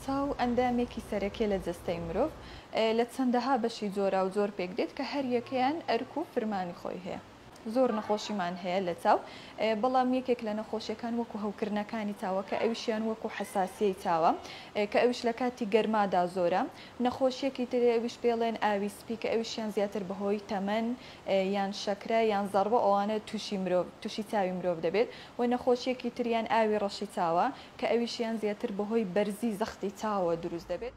چاو ئەندامێکی سەرەکیە لە جەستەی مرۆڤ لە چەندەها بەشی جۆراوجۆر پێکدێت کە هەریەکەیان ئەرک و فرمانی خۆی هەیە. زۆر نەخۆشیمان هەیە لە چاو بەڵام یەکێک لە نەخۆشیەکان وەکو هەوکردنەکانی چاوە کە ئەویشیان وەکو حەساسیەی چاوە کە ئەویش لە کاتی گەرمادا زۆرە نەخۆشیەکی تری ئەویش پێڵێن ئاوی سپی کە ئەویشیان زیاتر بەهۆی تەمەن یان شەکرە یان زەڕبە ئەوانە توشی مرۆڤ توشی چاوی مرۆڤ دەبێت و نەخۆشیەکی تریان ئاوی ڕەشی چاوە کە ئەویشیان زیاتر بەهۆی بەرزی زەختی چاوەوە دروست دەبێت.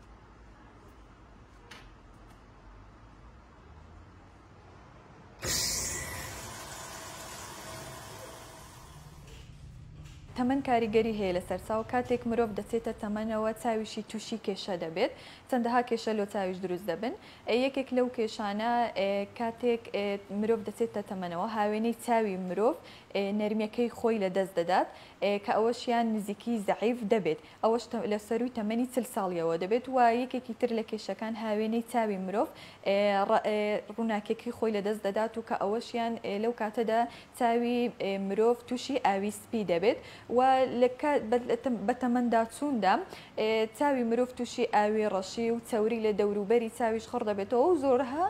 تەمەن کاریگەری هەیە لەسەر چاو، کاتێک مرۆڤ دەچێتە تەمەنەوە چاویشی توشی کێشە دەبێت، چەندەها کێشە لۆ چاویش دروست دەبن، یەکێک لەو کێشانە کاتێک مرۆڤ دەچێتە تەمەنەوە هاوێنەی چاوی مرۆڤ نەرمیەکەی خۆی لەدەست دەدات کە ئەوەشیان نزیکی زەعیف دەبێت، ئەوەش لە سەرووی تەمەنی چل ساڵییەوە دەبێت و یەکێکی تر لە کێشەکان هاوێنەی چاوی مرۆڤ ڕووناکییەکەی خۆی لەدەست دەدات و کە ئەوەشیان لەو کاتەدا چاوی مرۆڤ تووشی ئاوی سپی دەبێت و لە بە تەمەنداچووندا چاوی مرۆڤ تووشی ئاوی ڕەشی و چەوری لە دەوروبەری چاویش خڕ دەبێتەوە و زۆرها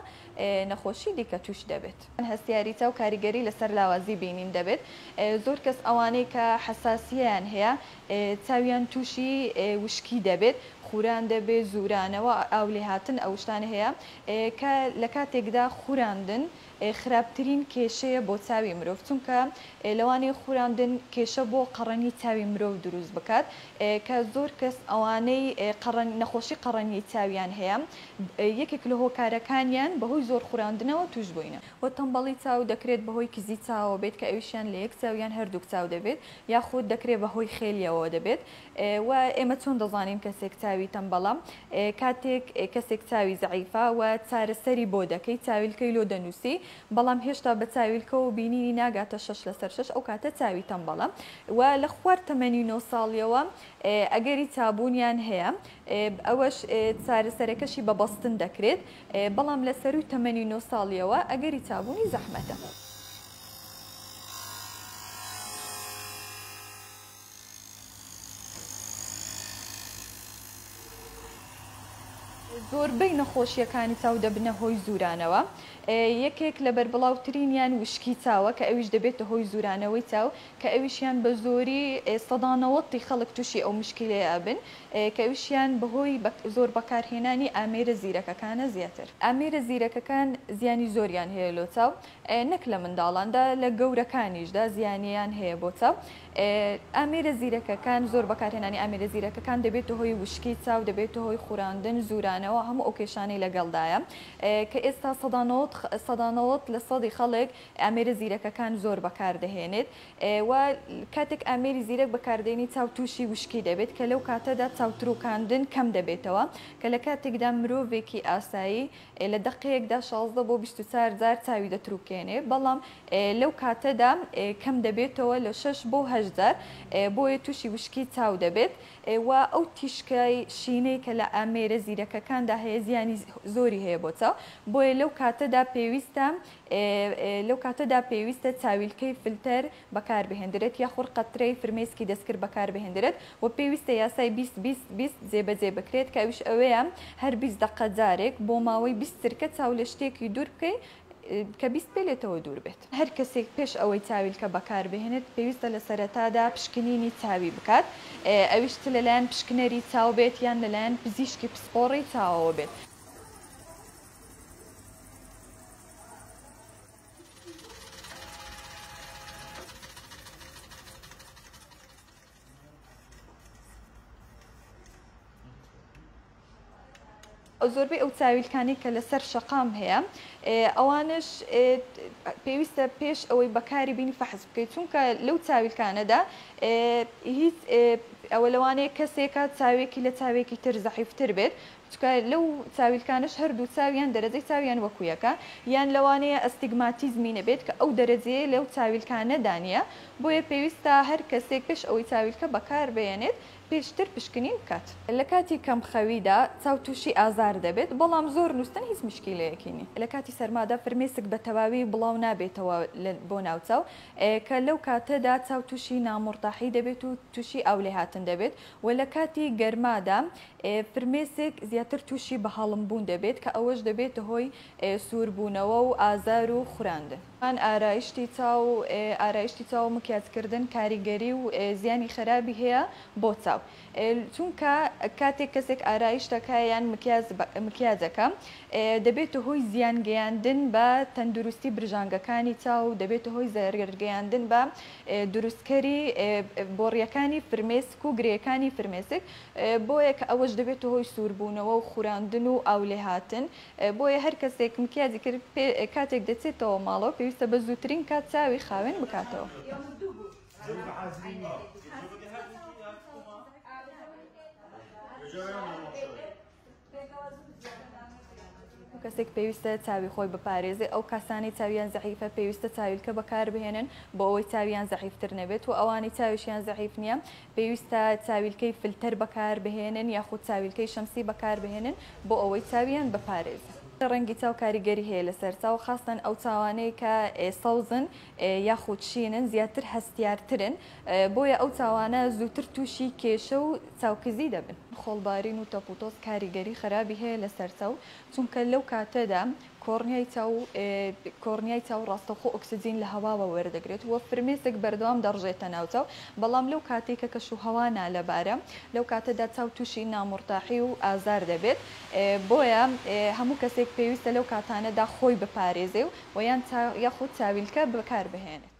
نەخۆشی دیکە تووش دەبێت. هەستیاری چاو کاریگەری لەسەر لاوازی بینین دەبێت، زۆر کەس ئەوانەی کە حەساسییەیان هەیە چاویان تووشی وشکی دەبێت، خوران دەبێت، زوورانەوە، ئاولێهاتن ئەوشتانە هەیە کە لە کاتێکدا خوراندن خراپترین کێشەیە بۆ چاوی مرۆڤ چونکە لەوانەیە خوراندن کێشە بۆ قەڕەنی چاوی مرۆڤ دروست بکات کە زۆر کەس ئەوانەی قەڕەن نەخۆشی قەڕەنی چاویان هەیە یەکێک لە هۆکارەکانیان بەهۆی زۆر خوراندنەوە تووشبووینە. وە تەمبەڵی چاو دەکرێت بەهۆی کزی چاوەوە بێت کە ئەویشیان لە یەک چاو یان هەردووک چاو دەبێت یاخود دەکرێت بەهۆی خێلیەوەوە دەبێت و ئێمە چۆن دەزانین کەسێک چاوی تەمبەڵە کاتێک کەسێک چاوی زەعیفە و چارەسەری بۆ دەکەی چاویلکەی لۆ دەنوسی بەڵام هێشتا بە چاویلکەوە بینینی ناگاتە شەش لەسەر شەش ئەو کاتە چاوی تەمبەڵە و لە خوار تەمەنی نۆ ساڵیەوە ئەگەری چابونیان هەیە ئەوەش چارەسەرەکەشی بە بەستن دەکرێت بەڵام لە سەروی تەمەنی نۆ ساڵیەوە ئەگەری چابونی زەحمەتە. زۆربەی نەخۆشییەکانی چاو دەبنە هۆی زورانەوە، یەکێک لە بەربڵاوترینیان وشکی چاوە کە ئەویش دەبێتە هۆی زورانەوەی چاو کە ئەویشیان بە زۆری سەدا نەوەد ی خەڵک توشی ئەو مشکیلەیە ئەبن کە ئەویشیان بەهۆی زۆر بەکارهێنانی ئامێرە زیرەکەکانە زیاتر ئامێرە زیرەکەکان زیانی زۆریان هەیە لۆ چاو نەک لە منداڵاندا لە گەورەکانیشدا زیانیان هەیە بۆ چاو ئامێرە زیرەکەکان زۆر بەکارهێنانی ئامێرە زیرەکەکان دەبێتە هۆی وشکی چاو دەبێتە هۆی خوراندن زورانەوە هەموو ئەو کێشانەی لەگەڵدایە کە ئێستا سەدا نەوەد سەدا نەوەد لە سەدی خەڵک ئامێرە زیرەکەکان زۆر بەکاردەهێنێت و کاتێک ئامێری زیرەک بەکاردێنی چاو تووشی وشکی دەبێت کە لەو کاتەدا چاو تروکاندن کەم دەبێتەوە کە لە کاتێکدا مرۆڤێکی ئاسایی ئێ لە دەقێکدا شازدە بۆ بیست و چار جار چاوی دەتروکێنێ بەڵام لەو کاتەدا کەم دەبێتەوە لە شەش بۆ هەشت جار بۆیە تووشی وشکی چاو دەبێت و ئەو تیشکای شینەی کە لە ئامێرە زیرەکەکاندا هەیە زیانی زۆری هەیە بۆ چاو بۆیە لەو کاتەدا پێویستە لەو کاتەدا پێویستە چاویلکەی فلتەر بەکاربهێندرێت یا خورقە ترێی فرمێسکی دەستکرد بەکاربهێندرێت و پێویستە یاسای بیست بیست بیست جێبەجێ بکرێت کە ئەویش ئەوەیە هەر بیست دەقە جارێک بۆ ماوەی بیست چرکە چاو لە شتێکی دوور بکەی کە بیست پێ لێتەوە دوور بێت. هەر کەسێک پێش ئەوەی چاویلکە بەکاربهێنێت پێویستە لە سەرەتادا پشکنینی چاوی بکات ئەویش چ لەلایەن پشکنەری چاو بێت یان لەلایەن پزیشکی پسپۆڕی چاوەوە بێت. زۆربەی ئەو چاویلکانی کە لەسەر شەقام هەیە ئەوانش پێویستە پێش ئەوەی بەکاری بینی فەحز بکەیت چونکە لەو چاویلکانەدا هیچ ئەوە لەوانەیە کەسێکە چاوێکی لە چاوێکی تر زەحیفتر بێت چکە لەو چاویلکانەش هەردوو چاو یان دەرەجەی چاویان وەکو یەکە یان لەوانەیە ئەستیگماتیزمی نەبێت کە ئەو دەرەجەیە لەو چاویلکانەدا نییە بۆیە پێویستە هەر کەسێک پێش ئەوەی چاویلکە بەکار بێنێت پێشتر پشکنین بکات. لە کاتی کەم خەویدا چاو توشی ئازار دەبێت بەڵام زۆر نوستن هیچ مشکیلەیەکی نیە. لە کاتی سەرمادا فرمێسک بە تەواوی بڵاو نابێتەوە بۆ ناو چاو کە لەو کاتەدا چاو توشی نامورتاحی دەبێت و توشی ئاو لێهاتن دەبێت وە لە کاتی گەرمادا فرمێسک زیاتر تووشی بەهەڵم بوون دەبێت کە ئەوەش دەبێتە هۆی سوور بوونەوە و ئازار و خوراندن. ئارایشتی چاو، ئارایشتی چاو و مکیاج کردن کاریگەری و زیانی خەرابی هەیە بۆ چاو چونکە کاتێک کەسێک ئارایش دەکا یان مکیاج مکیاج ئەکا دەبێتە هۆی زیان گەیاندن بە تەندروستی برژانگەکانی چاو و دەبێتە هۆی زەرەر گەیاندن بە دروستکەری بۆڕییەکانی فرمێسک و گرێیەکانی فرمێسک، بۆیە کە ئەوەش دەبێتە هۆی سووربوونەوە و خوراندن و ئاو لێهاتن، بۆیە هەر کەسێک مکیاجی کرد پێ کاتێک دەچێتەوە ماڵەوە پێویستە بە زووترین کات چاوی خاوێن بکاتەوە. کەسێک پێویستە چاوی خۆی بپارێزێ ئەو کەسانی چاویان زەحیفە پێویستە چاویلکە بەکاربهێنن بۆ ئەوەی چاویان زەحیفتر نەبێت و ئەوانی چاویشیان زەحیف نییە پێویستە چاویلکەی فلتەر بەکاربهێنن یاخود چاویلکەی شەمسی بەکاربهێنن بۆ ئەوەی چاویان بپارێزن. ڕەنگی چاو کاریگەری هەیە لەسەر چاو خاستەن ئەو چاوانەی کە سەوزن یاخود شینن زیاتر هەستیارترن، بۆیە ئەو چاوانە زووتر تووشی کێشە و چاوکزی دەبن. خۆڵبارین و تەپوتۆز کاریگەری خەرابی هەیە لەسەر چاو، چونکە لەو کاتەدا کۆڕنیای چاو کۆڕنیای چاو ڕاستەوخۆ ئۆکسجین لە هەواوە وەردەگرێت و فرمێسک بەردەوام دەڕژێتە ناو چاو، بەڵام لەو کاتەی کە کەشوهەوا نالەبارە لەو کاتەدا چاو تووشی نامورتاحی و ئازار دەبێت، بۆیە هەموو کەسێک پێویستە لەو کاتانەدا خۆی بپارێزێ و یان یاخود چاویلکە بەکاربهێنێت.